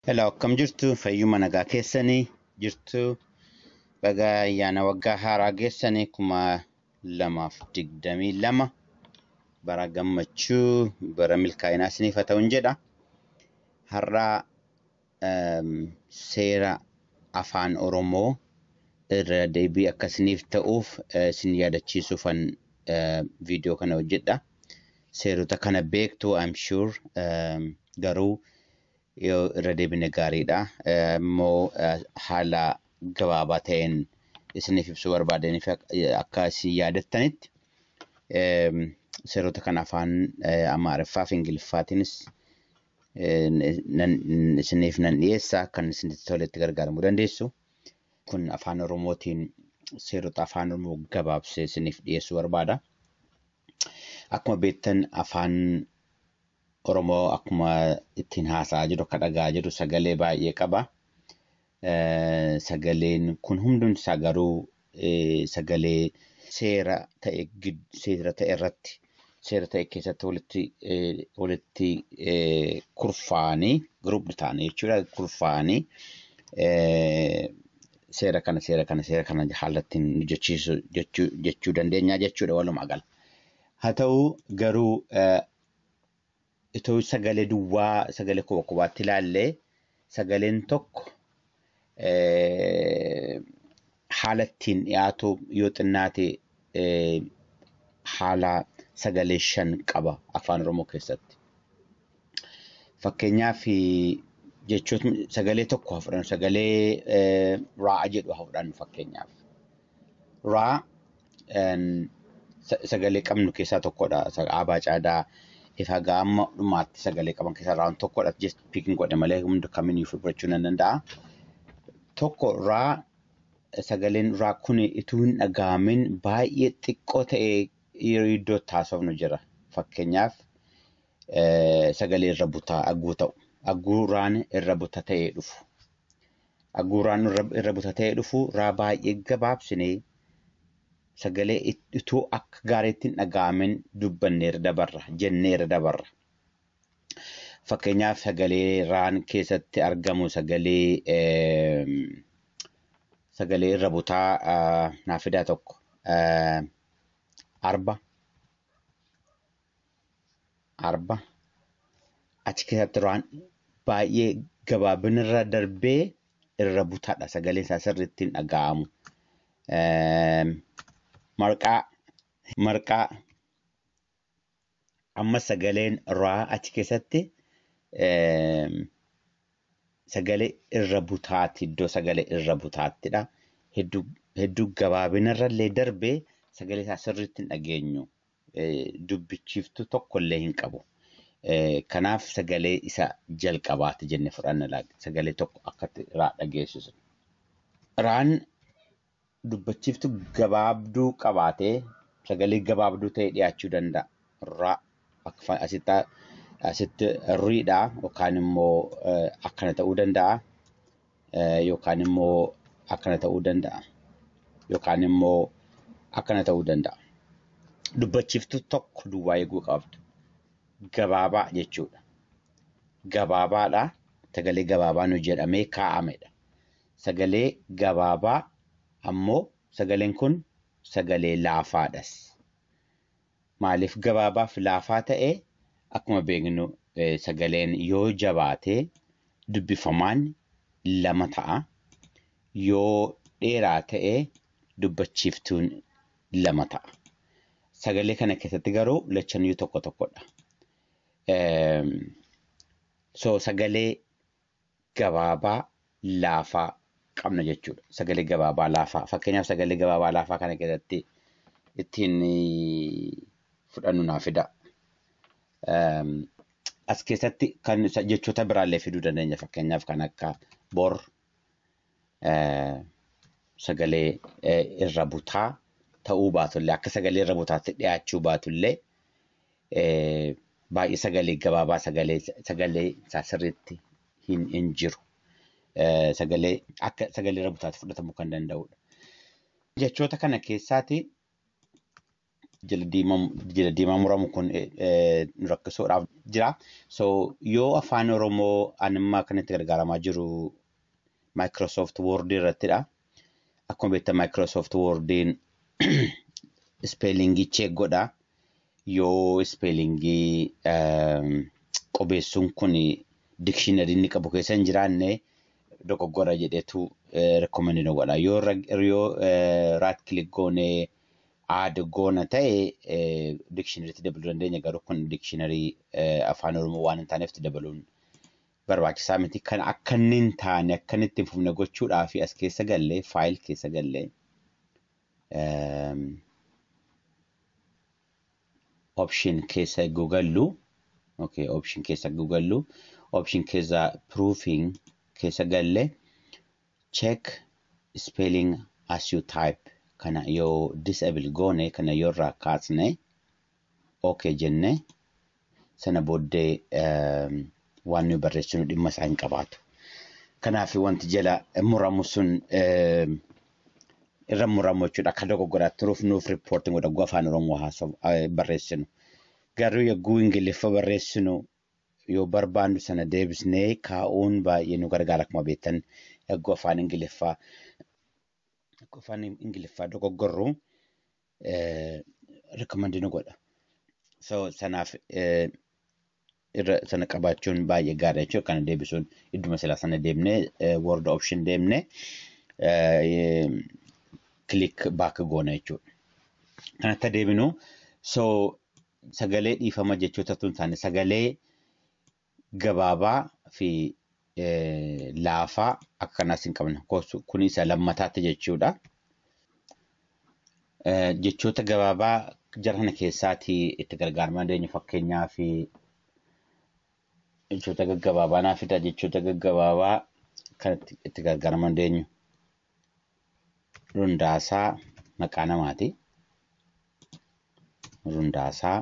Hello akkam jirtu fayyuma nagaa keessanii jirtu baga ayyaana waggaa haaraa geessanii kuma lamaaf digdamii lama bara gammachuu bara milkaa'inaa isiniif haa ta'uun jedha har'a ehm, seera afaan oromoo irra deebii akka isiniif ta'uuf eh, isin yaadachiisuufan eh, viidiyoo kana hojjedha seerota kana beektu I'm sure ehm, garuu Yoo irra deebine gaariidha. Immoo haala gabaabaa ta'een isiniif ibsuu barbaadeen fi akka isin yaadattanitti seerota kan afaan Amaariffaa fi Ingiliffaatiinis isiniif nan dhiyeessa kan isinitti toletti gargaaramuu dandeessu. Kun afaan Oromootiin seerota afaan Oromoo gabaabsee isiniif dhiyeessuu barbaada. Akkuma beektan afaan Oromoo akkuma ittiin haasa'aa jiru akka dhaga'aa jiru sagalee baay'ee qaba. Sagaleen kun hundumti isaa garuu sagalee seera ta'e seera ta'e irratti seera ta'e keessatti walitti walitti kurfaa'anii group ta'anii jechuudha kurfaa'anii seera kana seera kana seera kana haala ittiin hojjechiisu jechuu dandeenya jechuudha walumaa gala. Haa ta'u garuu Itoo sagalee duwwaa sagalee kopha kophaatti ilaalle sagaleen tokko haala ittiin dhiyaatu yoo xinnaate haala sagalee shan qaba afaan oromoo keessatti. Fakkeenyaaf jechootni sagalee tokko haa fudhannu sagalee raa'a jedhu haa fudhannu fakkeenyaaf. raa sagalee qabnu keessaa tokkodha. Aabaa caadaa ifaa gaamma dhumaatti sagalee qaban keessaa raawun tokkodha. Just pikin godhe malee hunda kamiyyuu fudhachuu nan danda'a. Tokko raa sagaleen raa kun ituu hin dhaga'amin baay'ee xiqqoo ta'ee yeroo iddoo taasifnu jira. Fakkeenyaaf sagalee irra butaa agguu ta'u. Agguu raan irra buta ta'ee dhufu. Aguuraan irra irra butatee dhufu irraa baay'ee gabaabsine sagalee it- utuu akka gaariitti hin dhaga'amin dubbanne irra dabarra jennee irra dabarra. Fakkeenyaaf sagalee raan keessatti argamu sagalee eem, sagalee irra butaa ah, naaf fidaa tokko ah, arba arba achi keessatti waan baay'ee gabaabinirra darbee irra butaadha sagaleen isaa sirriitti hin dhaga'amu. Eem, Marqaa marqaa amma sagaleen raa achi keessatti eem, sagalee irra butaatti iddoo sagalee irra butaattidha. Hedduu hedduu gabaabinarrallee darbee sagalee isaa sirriitti hin dhageenyu. dubbichiiftuu tokko illee hin qabu. Kanaaf sagalee isa jalqabaati jenne fudhanna laata. Sagalee tokko akkatti raa dhageessisu. Raan dubbachiiftu gabaabduu qabaatee sagalee gabaabduu ta'e dhiyaachuu danda'a. Raa akka asitti asitti riidhaa yookaan immoo akkana ta'uu danda'a. yookaan immoo akkana ta'uu danda'a. Yookaan immoo akkana ta'uu danda'a. Dubbachiiftuu tokko duwwaa eeguu qabdu. Gabaabaa jechuudha. Gabaabaadha. Sagalee gabaabaan hojjetamee kaa'amedha. Sagalee gabaabaa ammoo sagaleen kun sagalee laafaadhas. Maaliif gabaabaaf laafaa ta'e? Akkuma beeknu sagaleen yoo jabaate dubbifamaan lama ta'a. Yoo dheeraa ta'e dubbachiiftuun lama ta'a. Sagalee kana keessatti garuu lachanuu tokko tokkodha. So sagalee gabaabaa laafaa qabna jechuudha. Sagalee gabaabaa laafaa. Fakkeenyaaf sagalee gabaabaa laafaa kana keessatti ittiin fudhannu naa fida. As keessatti kan jechoota biraallee fiduu dandeenya. Fakkeenyaaf kan akka bor sagalee irra butaa ta'uu baatullee akka sagalee irra butaatti dhiyaachuu baatullee baay'ee sagalee gabaabaa sagalee sagalee isaa sirriitti hin hin jiru. Sagalee akka sagalee rabutaatti fudhatamuu kan danda'udha. Jechoota kana keessaati jila diimaa muramu kun nu rakkisuudhaaf jira. So yoo afaan Oromoo animmaa kan itti gargaaramaa jiru Microsoft Word irrattidha. Akkuma beektan Microsoft Wordiin ispeelingii cheek godha. Yoo ispeelingii qubeessuun kun dikshinariin inni qabu keessa hin jiraanne dogoggora jedhetu rekomendi nu godha. Yoo raat kilik goonee aad goona ta'e dikshinariitti dabaluu dandeenya garuu kun dikshinarii afaan oromoo waan hin taaneef dabaluun barbaachisaa miti. Kana akka inni hin taane, akka inni itti hin fufne gochuudhaafi as keessa gallee, file keessa gallee, ehm, option keessa egguu gallu, okay, option keessa egguu gallu, option keessa proofing keessa galle, check spelling as you type kana yoo disable goone, kana yoo irraa kaasne, ok jenne sana booddee waan nuyi barreessinu dhimma isaa hin qabaatu. Kanaaf wanti jala muramu sun irra muramu jechuudha. Akka dogoggoraa turuuf nuuf riippoortiin godha yoo afaan Oromoo haasa'u barreessinu. Garuu yogguu Ingiliffa barreessinu yoo barbaannu sana deebisnee kaa'uun baay'ee nu gargaara akkuma beektan yogguu afaan Ingiliffaa yogguu afaan Ingiliffaa dogoggorru eh, recommend nu godha. So sanaaf eh, irra sana qabaachuun baay'ee gaariidha jechuudha. Kana deebisuun idduma silaa sana deemnee eh, word option deemnee eh, click back goona jechuudha. Kanatti deebinu so sagalee dhiifama jechoota tun taane sagalee gabaabaa fi laafaa akka kanaas hin qabna. Kun isa lammataatti jechuudha. Jechoota gabaabaa jara kana keessaati itti gargaarama dandeenyu fakkeenyaa fi jechoota gaggabaabaa naaf fida jechoota gaggabaabaa kan itti gargaarama dandeenyu. Rundaasaa maqaa namaati. Rundaasaa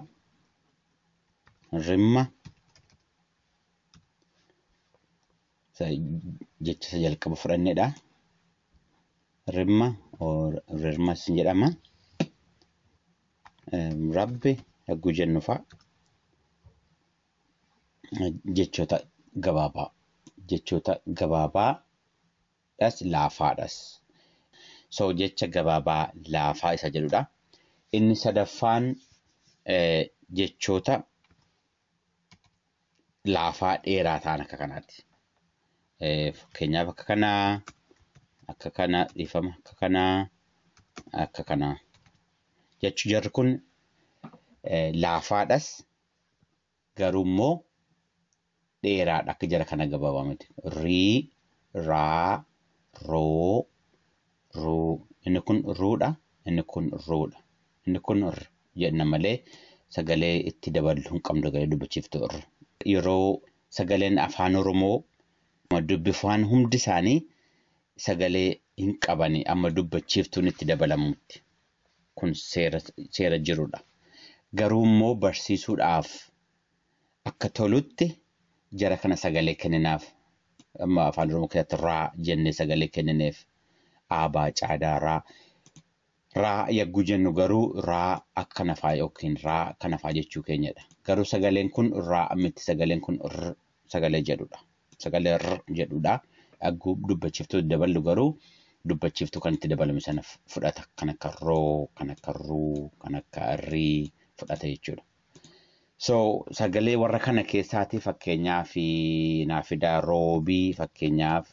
rimma jecha isa jalqaba fudhannedha. Rimma rirmas ni jedhama. Rabbi yagguu jennu fa'a jechoota gabaabaa jechoota gabaabaa dhas laafaadhas. So jecha gabaabaa laafaa isa jedhudha. Inni sadaffaan jechoota laafaa dheeraa ta'an akka kanaati. Fakkeenyaaf akka kanaa, akka kana dhiifama, akka kanaa, akka kanaa. Jechi jarri kun laafaadhas Garuummoo dheeraadha akka jara kana gabaabaa miti. Rii, raa, roo, ruu. Inni kun ruudha, inni kun ruudha. Inni kun r jenna malee sagalee itti daballu hin qabnu sagalee dubbachiiftuu r. Yeroo sagaleen afaan Oromoo amma dubbifaan hundi isaanii sagalee hin qabani amma dubbachiiftuun itti dabalamutti. kun seera seera jirudha. Garuu immoo barsiisuudhaaf akka tolutti jara kana sagalee kenninaaf. Amma afaan Oromoo keessatti raa jennee sagalee kennineef. Aabaa caadaa raa. Raa yagguu jennu garuu raa akka nafaa yookiin raa kanafaa jechuu keenyadha. Garuu sagaleen kun raa miti sagaleen kun r sagalee jedhudha. Sagalee r jedhudha. Agguu dubbachiftuu daballu garuu dubbachiftuu kan itti dabalame sana fudhata. Kan akka roo, kan akka ruu, kan akka rii fudhata jechuudha. So sagalee warra kana keessaati fakkeenyaaf naaf fidaa roobii fakkeenyaaf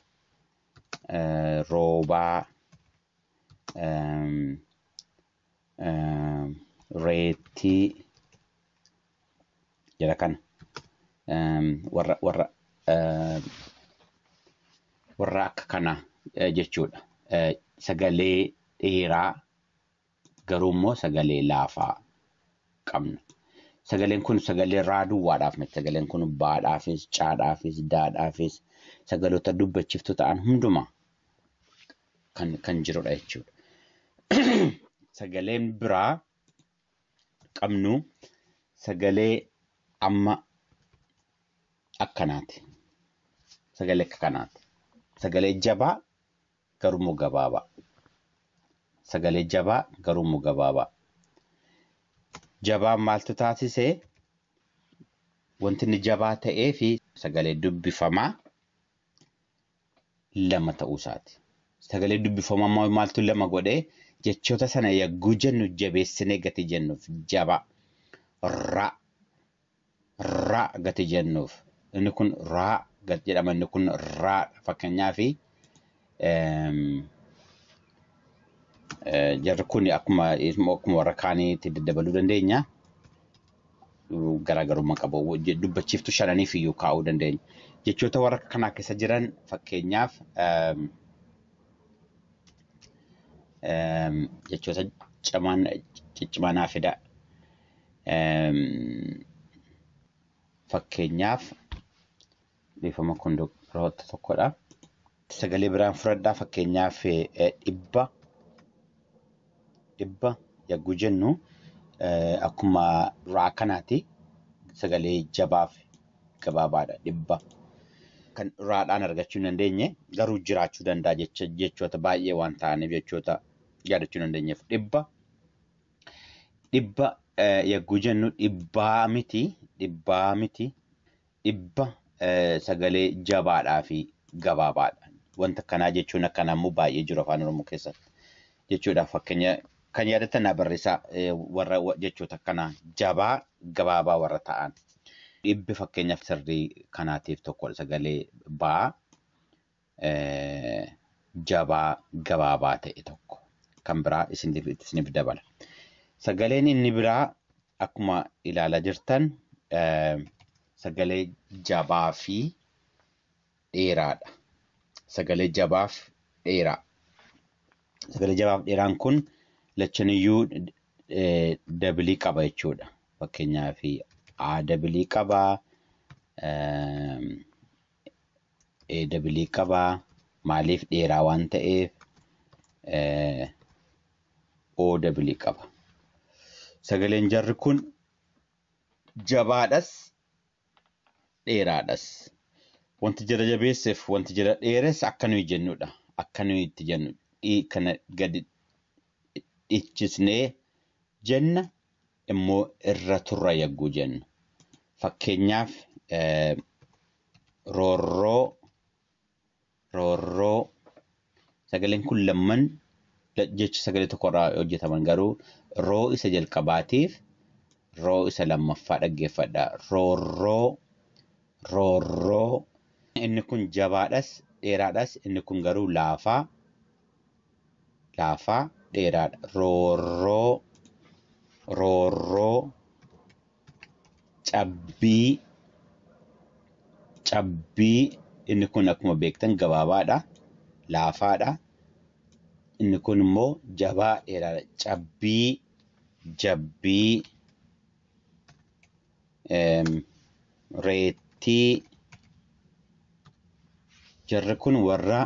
roobaa reettii jara kana warra warra warra akka kana jechuudha. Sagalee dheeraa garuu immoo sagalee laafaa qabna. Sagaleen kun sagalee raaduwwaadhaaf miti. Sagaleen kun baadhaafis, caadhaafis, daadhaafis sagaloota dubbachiftu ta'an hundumaa kan, kan jirudha jechuudha. Sagaleen biraa qabnu sagalee amma akkanaati. Sagalee akka kanaati. Sagalee jabaa garuu gabaabaa. Sagalee jabaa garuu gabaabaa. Jabaan maaltu taasise? Wanti inni jabaa ta'ee fi sagalee dubbifamaa lama ta'uu isaati. Sagalee dubbifamaa immoo maaltu lama godhee jechoota sana yagguu jennu jabeessinee gati jennuuf jabaa. Ra. Ra gati jennuuf. Inni kun raa gati jedhama inni kun raa fakkeenyaaf jarri kun akkuma akkuma warra kaaniitti daddabaluu dandeenya. garaagarummaa qabu. Je- Dubbachiiftuu shananiif iyyuu kaa'uu dandeenya. Jechoota warra kanaa keessa jiran fakkeenyaaf ehm, ehm, jechoota cimaan ciccimaa naa fida. Ehm, Fakkeenyaaf Dhiifama kun roota tokkodha. Sagalee biraan fudhadhaa fakkeenyaaf dhibba dhibba yagguu jennu akkuma duraa kanaati sagalee jabaaf gabaabaadha dhibba. Kan raadhaan argachuu hin dandeenye garuu jiraachuu danda'a jechoota baay'ee waan ta'aniif jechoota yaadachuu hin dandeenyeef dhibba. Dhibba yagguu jennu dhibbaa miti dhibbaa miti dhibba sagalee jabaadhaa fi gabaabaadha. Wanta akkanaa jechuun akkanaa immoo baay'ee jiru afaan Oromoo keessatti. Jechuudhaaf fakkeenya kan yaadattan naa barreessaa warra jechoota akkanaa jabaa gabaabaa warra ta'an. Dhibbi fakkeenyaaf sirrii kanaatiif tokkodha sagalee baa. jabaa gabaabaa ta'e tokko kan biraa isiniif isiniif dabala. Sagaleen inni biraa akkuma ilaalaa jirtan sagalee jabaa fi dheeraadha. Sagalee jabaaf dheeraa. Sagalee jabaaf dheeraan kun lachaniyyuu dabilii qaba jechuudha. Fakkeenyaaf A dabilii qaba, ee dabilii qabaa maaliif dheeraa waan ta'eef ee oo dabilii qaba sagaleen jarri kun jabaadhas dheeraadhas wanti jala jabeesseef wanti jala dheeres akka nuyi jennudha akka nuyi itti jennu dhii kana gadi dhichisnee jenna immoo irra turra yagguu jennu. Fakkeenyaaf roorroo, roorroo sagaleen kun lamman jecha sagalee tokkorraa hojjetaman garuu roo isa jalqabaatiif roo isa lammaffaa dhaggeeffadha. Roorroo, roorroo. Inni kun jabaadhas, dheeraadhas, inni kun garuu laafaa, laafaa dheeraadha. Roorroo roorroo cabbii cabbii inni kun akkuma beektan gabaabaadha laafaadha inni kun immoo jabaa dheeraadha cabbii jabbii reettii jarri kun warra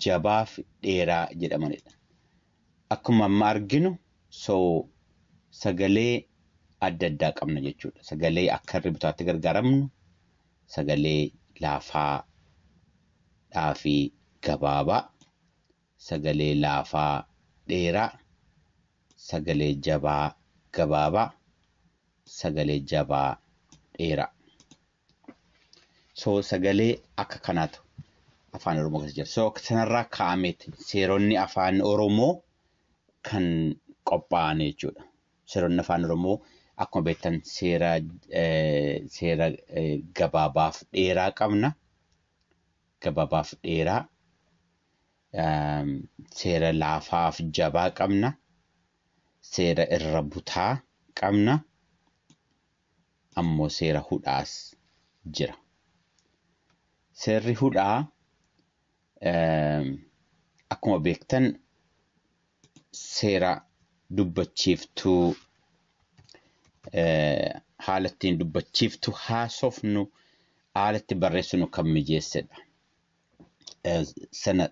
jabaaf dheeraa jedhamanidha. Akkuma amma arginu so sagalee adda addaa qabna jechuudha. Sagalee akka irri bitaatti gargaaramnu sagalee laafaa dhaafi gabaabaa. sagalee laafaa dheeraa, sagalee jabaa gabaabaa, sagalee jabaa dheeraa. So sagalee akka kanaatu afaan Oromoo keessa jira. So sanarraa kaa'ameeti seeronni afaan Oromoo kan qophaa'an jechuudha. Seeronni afaan Oromoo akkuma beektan seera eh, seera eh, gabaabaaf dheeraa qabna. gababaaf dheeraa, seera laafaaf jabaa qabna, seera irra butaa qabna, ammoo seera hudhaas jira. Seerri hudhaa akkuma beektan seera dubbachiiftuu haala ittiin dubbachiiftu haasofnu haala itti barreessinu kan mijeessedha. Sana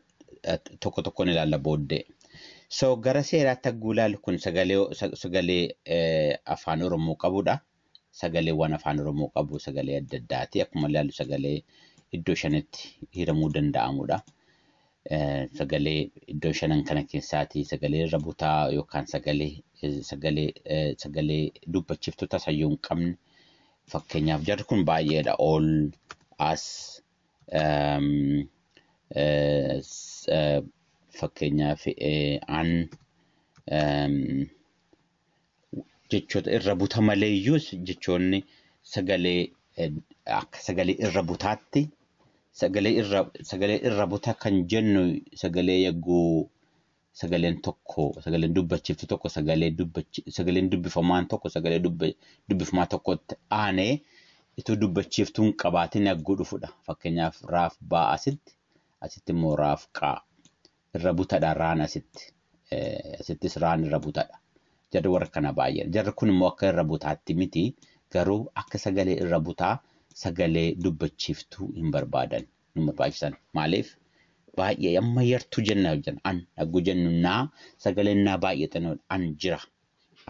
tokko tokkoon ilaalla booddee. So gara seeraatti hagguu ilaalu kun sagalee afaan Oromoo qabudha. sagalee waan afaan oromoo qabu sagalee adda addaati akkuma ilaallu sagalee iddoo shanitti hiramuu danda'amudha. Sagalee iddoo shanan kana keessaati sagalee irra butaa yookaan sagalee sagalee sagalee dubbachiftuu tasayyuu hin qabne fakkeenyaaf jarri kun baay'eedha ol as fakkeenyaaf an jechoota irra buta maleeyyuus jechoonni sagalee akka sagalee irra butaatti sagalee irra sagalee irra buta kan jennu sagalee yagguu sagaleen tokko sagaleen dubbachiftu tokko sagalee dubbachi sagaleen dubbifamaan tokko sagalee dubbifamaa tokkotti aanee ituu dubbachiftuun qabaatiin yagguu dhufudha fakkeenyaaf raaf baa asitti asitti immoo raaf qaa irra butadha raan asitti asittis raan irra butadha jarri warra kana baay'ee jarri kun immoo akka irra butaatti miti garuu akka sagalee irra butaa sagalee dubbachiiftuu hin barbaadan hin barbaachisan maaliif baay'ee amma yartuu jenna hojjan an yagguu jennu naa sagaleen naa baay'ee xinoo an jira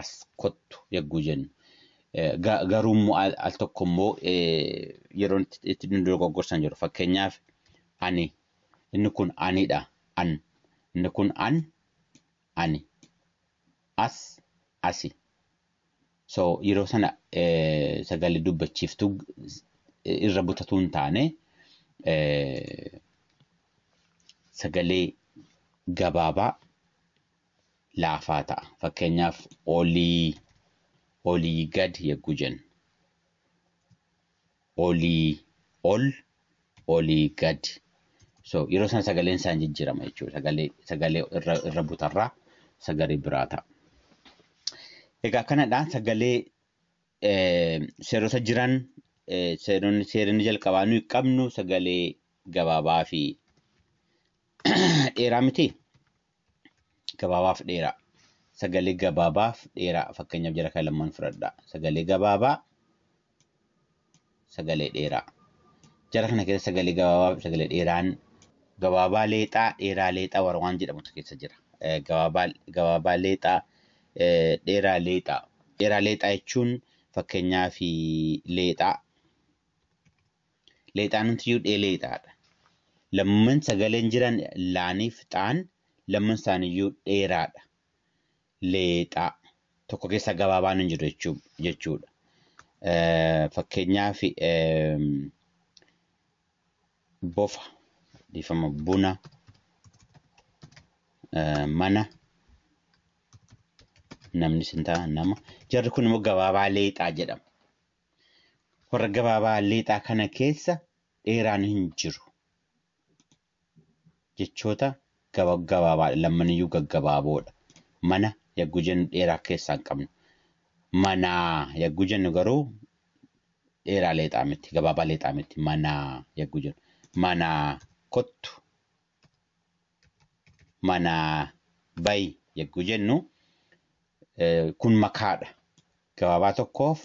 as kottu yagguu jennu garuu immoo al tokko immoo yeroo itti nu dogoggorsan jiru fakkeenyaaf ani Inni kun ani dha, an. Inni kun an, ani. As, asi. So yeroo sana sagalee dubbachiiftuu irra butatuu hin taane sagalee gabaabaa laafaa ta'a. Fakkeenyaaf olii, olii gad yagguu jennu. olii ol olii gad so yeroo sana sagaleen isaan jijjiirama jechuudha sagalee sagalee irra irra butarraa sagalee biraa ta'a. Egaa kanadhaan sagalee eh, seerota jiran eh, seeronni seeronni jalqabaa nuyi qabnu sagalee gabaabaa fi dheeraa miti. gabaabaaf dheeraa. Sagalee gabaabaaf dheeraa fakkeenyaaf jara kan lamman fudhadha. Sagalee gabaabaa sagalee dheeraa. Jara kana keessa sagalee gabaabaa fi sagalee dheeraan gabaabaa leexaa dheeraa leexaa warra waan jedhamutu keessa jira. Gabaabaa gabaabaa leexaa dheeraa leexaa. Dheeraa leexaa jechuun fakkeenyaaf leexaa Leexaanumtiyyuu dhee leexaa dha. Lamman sagaleen jiran laanii fi xaan lamman isaaniyyuu dheeraa dha. Leexaa. Tokko keessaa gabaabaan hin jiru jechuu jechuu dha. Fakkeenyaaf bofa dhiifama buna mana namni sin ta'a nama jarri kun immoo gabaabaa leexaa jedhama. Warra gabaabaa leexaa kana keessa dheeraan hin jiru. Jechoota gabagabaabaadha. Lammaniyyuu gaggabaaboodha. Mana yagguu jennu dheeraa keessaa hin qabnu. Manaa yagguu jennu garuu dheeraa leexaa miti. Gabaabaa leexaa miti. Manaa yagguu jennu. Manaa kottu. Manaa bayi yagguu jennu kun makaadha. Gabaabaa tokkoof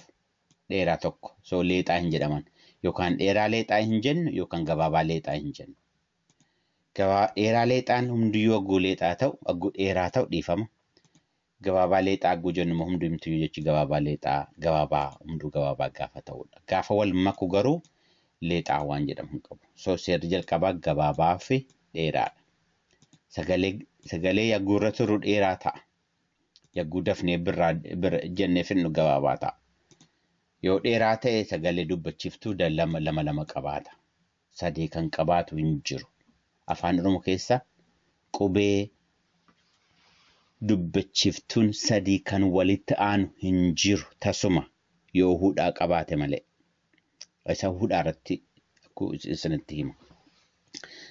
dheeraa tokko. So leexaa hin jedhaman. Yookaan dheeraa leexaa hin jennu yookaan gabaabaa leexaa hin jennu. Gabaa dheeraa leexaan hundiyyuu agguu leexaa ta'u agguu dheeraa ta'u dhiifama. Gabaabaa leexaa agguu jennu immoo hundi himtuyyuu jechi gabaabaa leexaa gabaabaa hunduu gabaabaa gaafa ta'udha. Gaafa wal maku garuu leexaa waan jedhamu hin qabu. So seerri jalqabaa gabaabaa fi dheeraadha. Sagalee sagalee agguu irra turu dheeraa ta'a. Yagguu dafnee birraa bir jennee fidnu gabaabaa ta'a. Yoo dheeraa ta'e sagalee dubbachiftuu da- lama lama lama qabaata. Sadee kan qabaatu hin jiru. Afaan Oromoo keessa qubee dubbachiftuun sadii kan walitti aanu hin jiru tasuma yoo hudhaa qabaate malee. Isa hudhaa irratti ku- isinitti hima.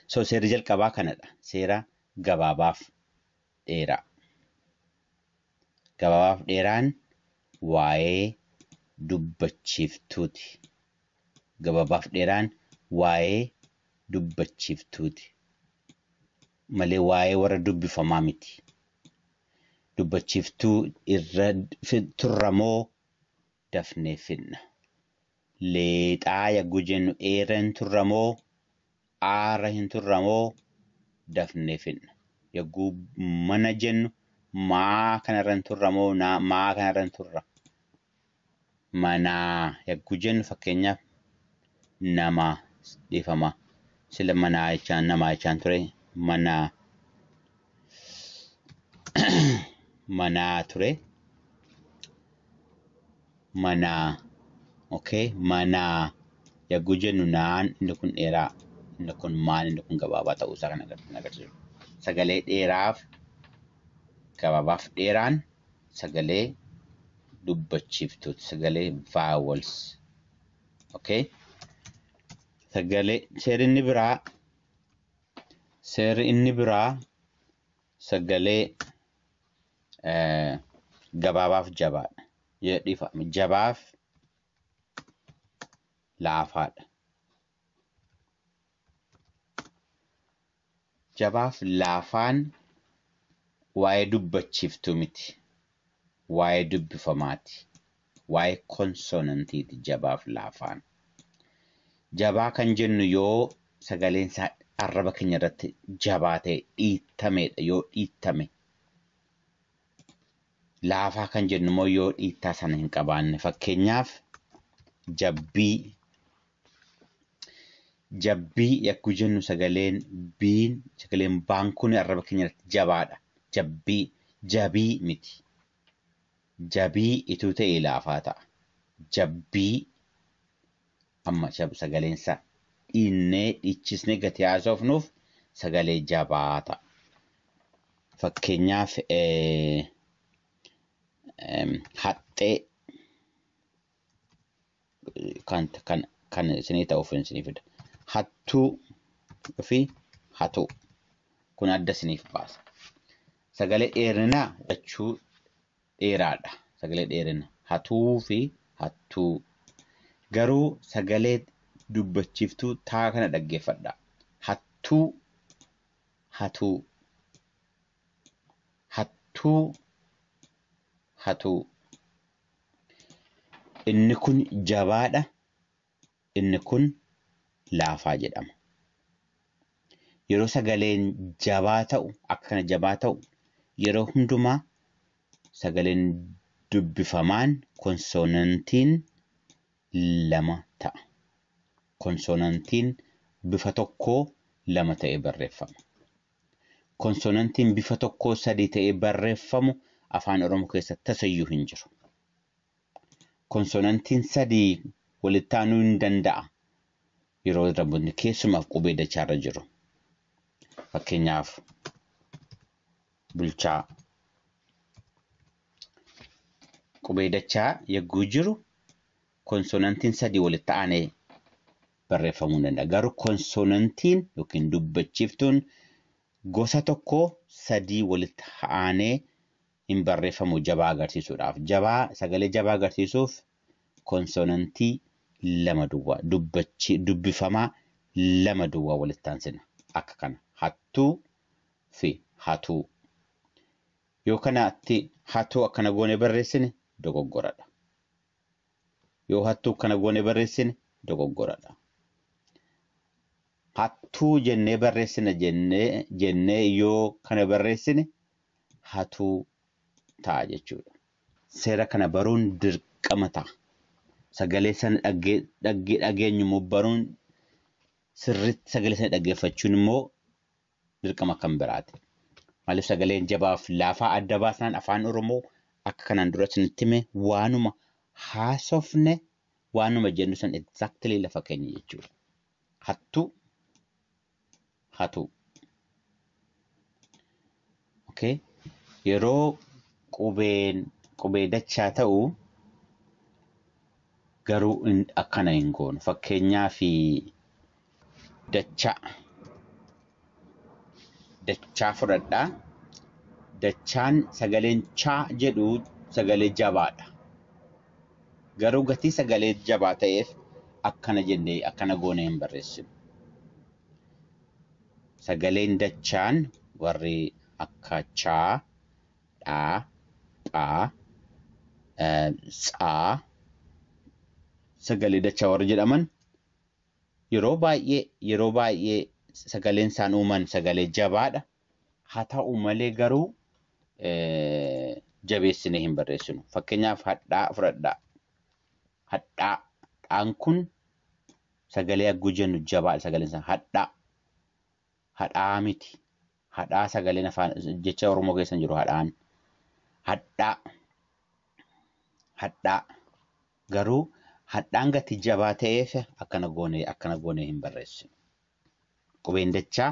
So seerri jalqabaa kanadha. Seera gabaabaaf dheeraa. Gabaabaaf dheeraan waa'ee dubbachiiftuuti. Gabaabaaf dheeraan waa'ee dubbachiiftuuti. Malee waa'ee warra dubbifamaa miti. Dubbachiiftuu irra turramoo dafnee fidna. Leexaa yagguu jennu eera hin turra moo aara hin turra moo dafnee fidna. Yagguu mana jennu maa kanarra hin turra moo naa maa kanarra hin turra. Manaa yagguu jennu fakkeenyaaf namaa dhifama sila manaa jechaan namaa jechaan ture manaa manaa ture manaa okay manaa yagguu jennu naan inni kun dheeraa inni kun maan inni kun gabaabaa ta'uu isaa kan agarsiisu sagalee dheeraaf gabaabaaf dheeraan sagalee dubbachiiftuuti sagalee vaawels Okay. Sagalee seerri inni biraa seerri inni biraa sagalee eh, gabaabaaf jabaadha. Yoo dhiifame jabaaf laafaadha. Jabaaf laafaan waa'ee dubbachiiftuu miti. Waa'ee dubbifamaati. Waa'ee konsonantiiti jabaaf laafaan. Jabaa kan jennu yoo sagaleen isaa arraba keenya irratti jabaa ta'e dhiittameedha yoo dhiittame. Laafaa kan jennu immoo yoo dhiittaa sana hin qabaanne fakkeenyaaf jabbii Jabbii yagguu jennu sagaleen biin sagaleen baan kun arraba keenya irratti jabaadha. Jabbii jabii miti. Jabii ituu ta'e laafaa ta'a. Jabbii amma sagaleen isaa dhiinnee dhiichisnee gati haasofnuuf sagalee jabaa ta'a. Fakkeenyaaf haxxee kan kan kan isinii ta'uuf isinii fida. Hattuu fi hatuu kun adda isiniif baasa. Sagalee dheerinaa jechuu dheeraadha. Sagalee dheerina hatuu fi hattuu. Garuu sagalee dubbachiiftuu taa kana dhaggeeffadha. Hattuu hatuu hattuu hatuu. Inni kun jabaadha, inni kun laafaa jedhama. Yeroo sagaleen jabaa ta'u, akka kana jabaa ta'u, yeroo hundumaa sagaleen dubbifamaan konsoonantiin lama ta'a. Konsoonantiin bifa tokkoo lama ta'ee barreeffama. Konsonantiin bifa tokkoo sadii ta'ee barreeffamu Afaan Oromoo keessa tasayyuu hin jiru. Konsonantiin sadii walitti aanuu hin danda'a yeroo irrabbotni keessumaaf qubee dachaarra jiru. Fakkeenyaaf bulchaa. Qubee dachaa yagguu jiru Konsoonantiin sadii walitti aanee barreeffamuu ni danda'a. Garuu konsoonantiin yookiin dubbachiiftuun gosa tokko sadii walitti aanee hin barreeffamu jabaa agarsiisuudhaaf. Jabaa sagalee jabaa agarsiisuuf konsoonantii lama duwwaa dubbachi dubbifamaa lama duwwaa walitti aansina. Akka kana hattuu fi hatuu. Yoo kanatti hatuu akkana goone barreessine dogoggoradha. Yoo hattuu kana goone barreessine dogoggoradha. Hattuu jennee barreessina jennee jennee yoo kana barreessine hatuu ta'a jechuudha. Seera kana baruun dirqama ta'a. Sagalee sana dhagge dhagge dhageenyu immoo baruun sirriitti sagalee sana dhaggeeffachuun immoo dirqama kan biraati. Maaliif sagaleen jabaaf laafaa adda baasnaan afaan Oromoo akka kanaan dura isinitti hime waanuma haasofne waanuma jennu san exactly lafa keenya jechuudha. Hattuu hatuu. ok yeroo qubeen qubee dachaa ta'u garuu hin- akkana hin goonu fakkeenyaa fi dachaa dachaa fudhadha dachaan sagaleen chaa jedhu sagalee jabaadha garuu gatii sagalee jabaa ta'eef akkana jennee akkana goonee hin barreessinu Sagaleen dachaan warri akka chaa, dhaa, phaa, tsaa sagalee dachaa warri jedhaman yeroo baay'ee yeroo baay'ee sagaleen isaan uuman sagalee jabaadha. Haa ta'u malee garuu jabeessinee hin barreessinu. Fakkeenyaaf hadhaa fudhadhaa. Hadhaa. Dhaan kun Sagalee agguu jennu jabaadha sagaleen isaa hadhaa hadhaa miti hadhaa sagaleen afaan jecha oromoo keessa hin jiru hadhaan hadhaa hadhaa garuu hadhaan gati jabaa ta'eef akkana goonee akkana goonee hin barreessinu qubeen dachaa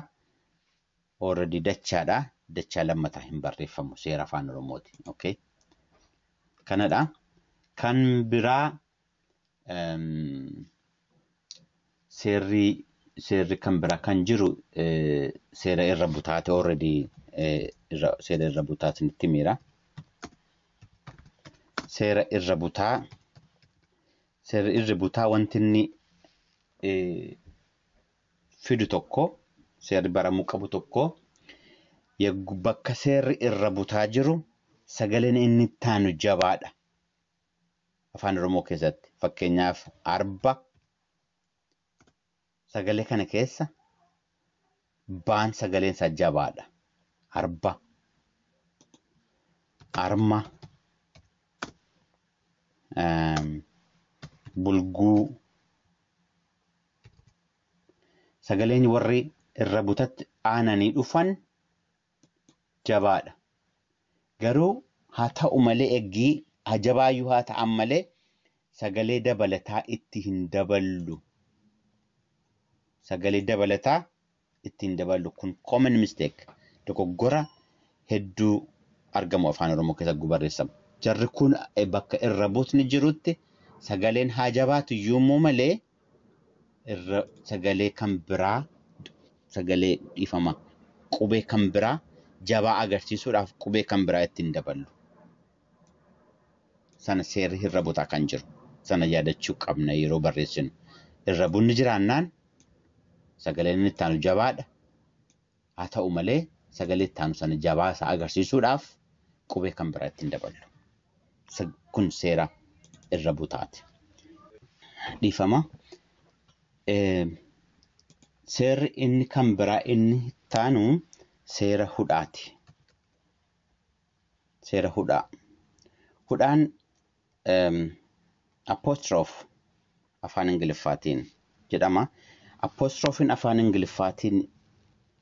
already dachaadha dachaa lammataa hin barreeffamu seera afaan oromooti okay kanadha kan biraa seerri seerri kan biraa kan jiru seera irra butaate already seera irra butaa isinitti miira. Seera irra butaa seerri irra butaa wanti inni fidu tokko seerri baramuu qabu tokko bakka seerri irra butaa jiru sagaleen inni ittaanu jabaadha. afaan Oromoo keessatti fakkeenyaaf arba sagalee kana keessa baan sagaleen isaa jabaadha. Arba, arma, ehm, bulguu sagaleen warri irra butatti aananii dhufan jabaadha garuu haa ta'u malee eggii haa jabaayyuu haa ta'an malee sagalee dabalataa itti hin daballu sagalee dabalataa itti hin daballu kun common mistake dogoggora hedduu argamu afaan oromoo keessa gubarreessamu jarri kun bakka irra buutni jirutti sagaleen haa jabaatu iyyuu immoo malee irra sagalee kan biraa sagalee dhiifama qubee kan biraa jabaa agarsiisuudhaaf qubee kan biraa ittiin daballu. Sana seerri irra butaa kan jiru. Sana yaadachuu qabna yeroo barreessinu. Irra bunni jiraannaan sagaleen inni itti aanu jabaadha. Haa ta'u malee, sagalee itti aanu sana jabaa isaa agarsiisuudhaaf qubee kan biraa itti hin daballu. Kun seera irra butaati. Dhiifama. Seerri inni kan biraa inni itti aanu seera hudhaati. seera hudhaa. Hudhaan em, apostrophe afaan Ingiliffaatiin jedhama. Apostrophiin afaan Ingiliffaatiin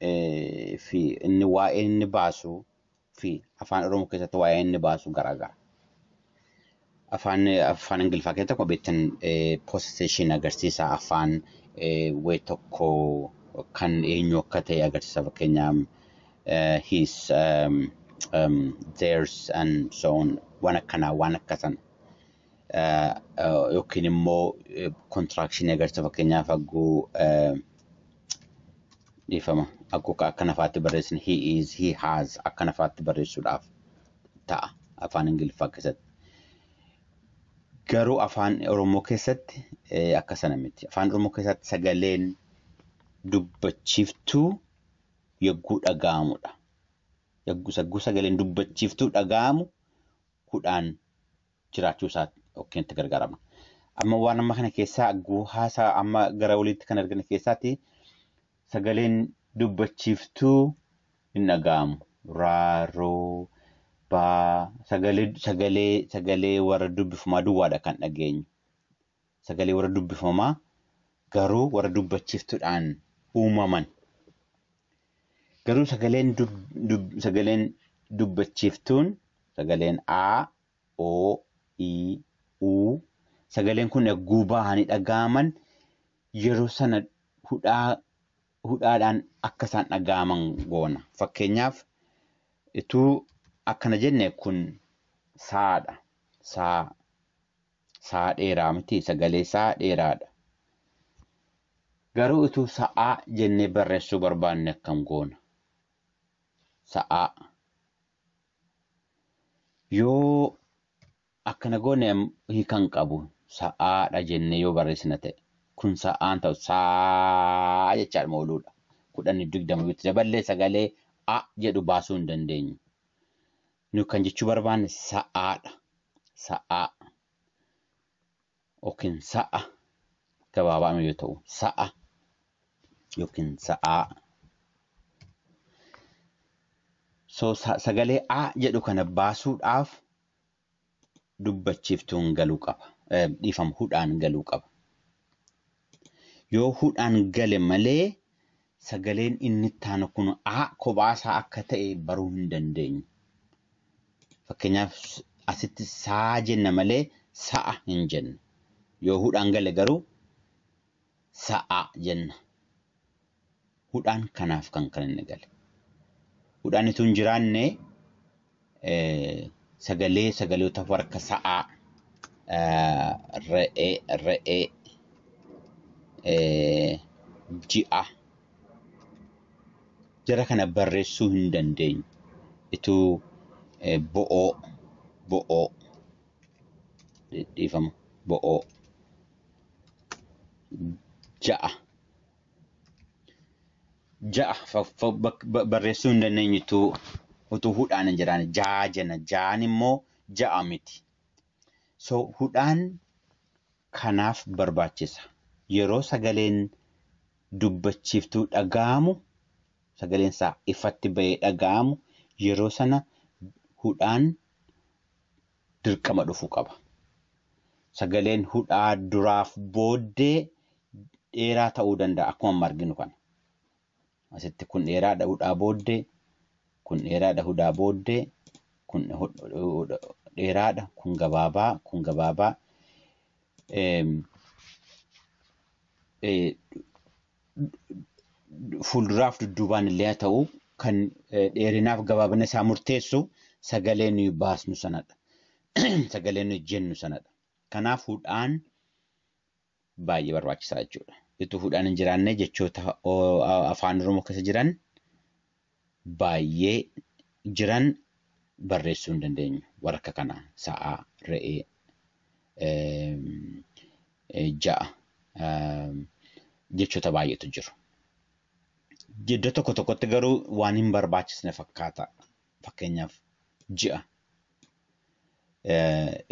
eh, fi inni waa'ee inni baasu fi afaan Oromoo keessatti waa'ee inni baasu garaagara. Afaan afaan Ingiliffaa keessatti akkuma beektan possession agarsiisa afaan way tokko kan eenyu akka ta'e agarsiisa fakkeenyaaf his um, um, theirs and so on waan akkanaa waan akka sana uh, uh, yookiin immoo uh, contraction agarsiisa fakkeenyaaf agguu uh, dhiifama agguu akkana faatti barreessin he is he has akkana faatti barreessuudhaaf ta'a afaan ingiliffaa keessatti. Garuu afaan Oromoo keessatti eh, akka sana miti. Afaan Oromoo keessatti sagaleen dubbachiiftuu yogguu dhaga'amudha. Yogguu yogguu sagaleen dubbachiiftuu dhaga'amu hudhaan jiraachuu isaa yookiin itti gargaarama. Amma waan amma kana keessaa haasaa amma gara oliitti kan argine keessaatti sagaleen dubbachiiftuu hin dhaga'amu. Raaroo baa sagalee sagalee sagalee warra dubbifamaa duwwaadha kan dhageenyu. sagalee warra dubbifamaa garuu warra dubbachiiftudhaan uumaman. Garuu sagaleen dub, dub, sagaleen dubbachiiftuun sagaleen A, O, I, U sagaleen kun egguu bahanii dhaga'aman yeroo sana hudhaa hudhaadhaan akka isaan dhaga'aman goona. Fakkeenyaaf utuu akkana jenne kun saadha. Saa Sa'aa dheeraa miti sagalee isaa dheeraadha. Garuu utuu sa'aa jennee barreessuu barbaanne akkam goona? Sa'aa. Yoo akkana goone hiikan qabu sa'aadha jennee yoo barreessina ta'e kun sa'aan ta'u saa jechaadhuma ooluudha. Kudhan digdama yoo itti daballee sagalee a jedhu baasuu hin dandeenyu. Nuyi kan jechuu barbaanne sa'aadha. Sa'aa yookiin sa'a gabaabaadhuma yoo ta'u sa'a yookiin sa'aa. So sagalee a jedhu kana baasuudhaaf dubbachiiftuun galu qaba. Dhiifama hudhaan galuu qaba. Yoo hudhaan gale malee sagaleen inni itti aanu kun a kophaa isaa akka ta'e baruu hin dandeenyu. Fakkeenyaaf asitti saa jenna malee sa'a hin jennu. Yoo hudhaan gale garuu sa'a jenna. hudhaan kanaaf kan kan inni gale. Hudhaan ituu hin jiraanne sagalee sagaloota warka sa'aa re'ee re'ee ji'a jara kana barreessuu hin dandeenyu. Ituu bo'oo bo'oo dhiifama bo'oo ja'a Ja'a fa- fa- bak- ba- barreessuu hin dandeenyu utuu utuu hudhaan hin jiraanne ja'a jenna. Ja'an immoo ja'a miti. So hudhaan kanaaf barbaachisa. Yeroo sagaleen dubbachiiftuu dhaga'amu sagaleen isaa ifatti ba'ee dhaga'amu yeroo sana hudhaan dirqama dhufu qaba. Sagaleen hudhaa duraaf booddee dheeraa ta'uu danda'a akkuma amma arginu kana. Asitti kun dheeraadha hudhaa booddee, kun dheeraadha hudhaa booddee, kun dheeraadha, kun gabaabaa, kun gabaabaa. fuulduraaf dudduubaan illee haa ta'u kan dheerinaaf gabaabina isaa murteessu sagalee nuyi baasnu sanadha. Sagalee nuyi jennu sanadha. Kanaaf hudhaan baay'ee barbaachisaa jechuudha. Utuu hudhaan hin jiraanne jechoota afaan Oromoo keessa jiran baayyee jiran barreessuu hin dandeenyu. Warra akka kanaa sa'a, re'ee, ja'a jechoota baay'eetu jiru. Iddoo tokko tokkotti garuu waan hin barbaachisne fakkaata. Fakkeenyaaf ji'a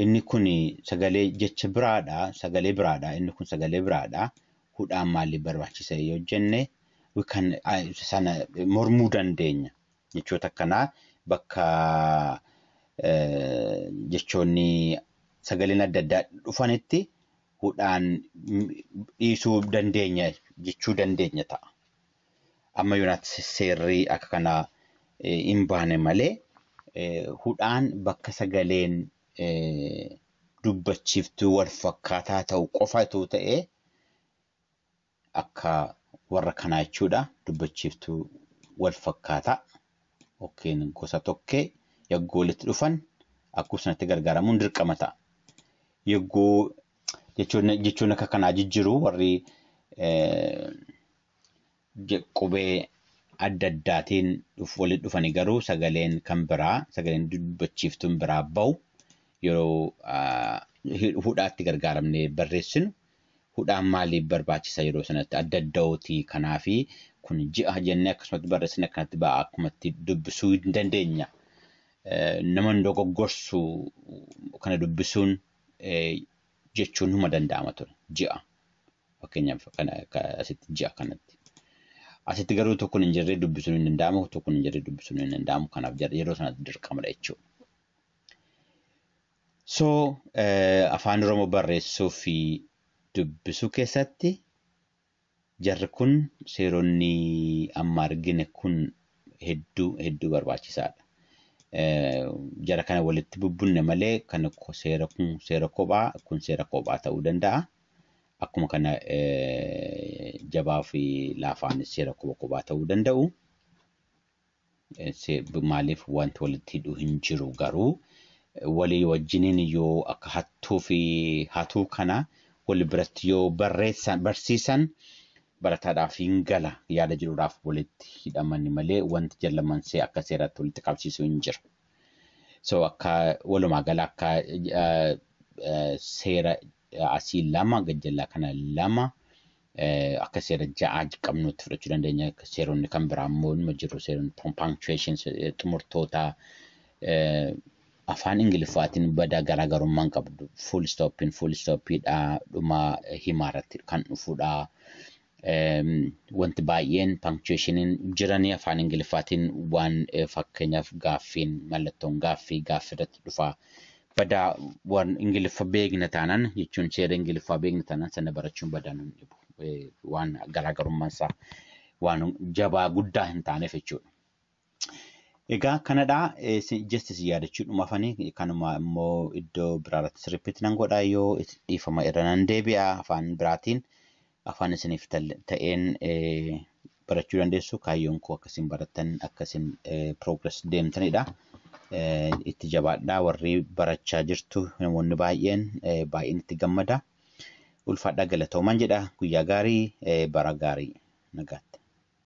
Inni kun sagalee jecha biraadha. Sagalee biraadha. Inni kun sagalee biraadha. Hudhaan maaliif barbaachisa yoo jenne we can I- sana mormuu dandeenya. Jechoota akkanaa bakka eh, jechoonni sagaleen adda addaa dhufanitti hudhaan mm, dhiisuu dandeenya jechuu dandeenya ta'a. Amma yoonaatti seerri akka kanaa hin baane malee hudhaan bakka sagaleen dubbachiiftuu walfakkaataa ta'u qofa utuu ta'ee akka warra kanaa jechuudha. Dubbachiiftuu walfakkaataa yookiin gosa tokkee yagguu walitti dhufan akkuma sanatti gargaaramuun dirqama ta'a. Yagguu jechoonni akka kanaa jijjiru warri qubee adda addaatiin walitti dhufani garuu sagaleen kan biraa sagaleen dubbachiiftuun biraa ba'u yeroo hudhaatti gargaaramnee barreessinu hudhaan maaliif barbaachisa yeroo sanatti adda adda'ooti kanaafi kun ji'a jennee akkasumatti barreessine akkanatti ba'a akkumatti dubbisuu hin dandeenya. Nama hin dogoggorsu kana dubbisuun jechuun huma danda'ama ture ji'a. Fakkeenyaaf asitti ji'a kanatti. Asitti garuu tokkoon hin jirre dubbisuun hin danda'amu, tokkoon hin jirre dubbisuun hin danda'amu. Kanaaf yeroo sanatti dirqamadha jechuudha. So afaan Oromoo barreessuu fi dubbisuu keessatti jarri kun seeronni amma argine kun hedduu hedduu barbaachisaadha. Jara kana walitti bubbunne malee kan seera kun seera kophaa kun seera kophaa ta'uu danda'a. Akkuma kana jabaa fi laafaan seera quba qubaa ta'uu danda'u. Maaliif wanti walitti hidhu hin jiru garuu walii wajjiniin yoo akka hattuu fi hatuu kana wali biratti yoo barreessan barsiisan barataadhaaf hin gala yaada jedhuudhaaf walitti hidhamani malee wanti jallamansee akka seeraatti walitti qabsiisu hin jiru. So akka walumaa gala akka seera asii lama gad jalaa kana lama akka seera ja'a qabnuutti fudhachuu dandeenya seeronni kan biraa immoo nima jiru seeronni punctuation xumurtoota afaan ingiliffaatiin badaa garaagarummaan qabdu full stoppiin full stoppiidha dhuma himaa irratti kan dhufudha wanti baay'een pankchuweeshiniin jiranii afaan ingiliffaatiin waan fakkeenyaaf gaaffiin mallattoon gaaffii gaaffii irratti dhufaa badaa waan ingiliffa beekna taanaan jechuun seera ingiliffaa beekna taanaan sana barachuun badaa nun dhibu waan garaagarummaan isaa waan jabaa guddaa hin taaneef jechuudha. Egaa kanadha just isin yaadachuu dhumafanii kanuma immoo iddoo biraarratti repeat nan godha yoo dhiifama irra nan deebi'a afaan biraatiin afaan isiniif ta'een barachuu dandeessu kaayyoon koo akka isin barattan akka isin progress deemtanidha. Itti jabaadhaa warri barachaa jirtu namoonni baay'een baay'een itti gammada. Ulfaadhaa galatoomaa jedha guyyaa gaarii bara gaarii nagaatti.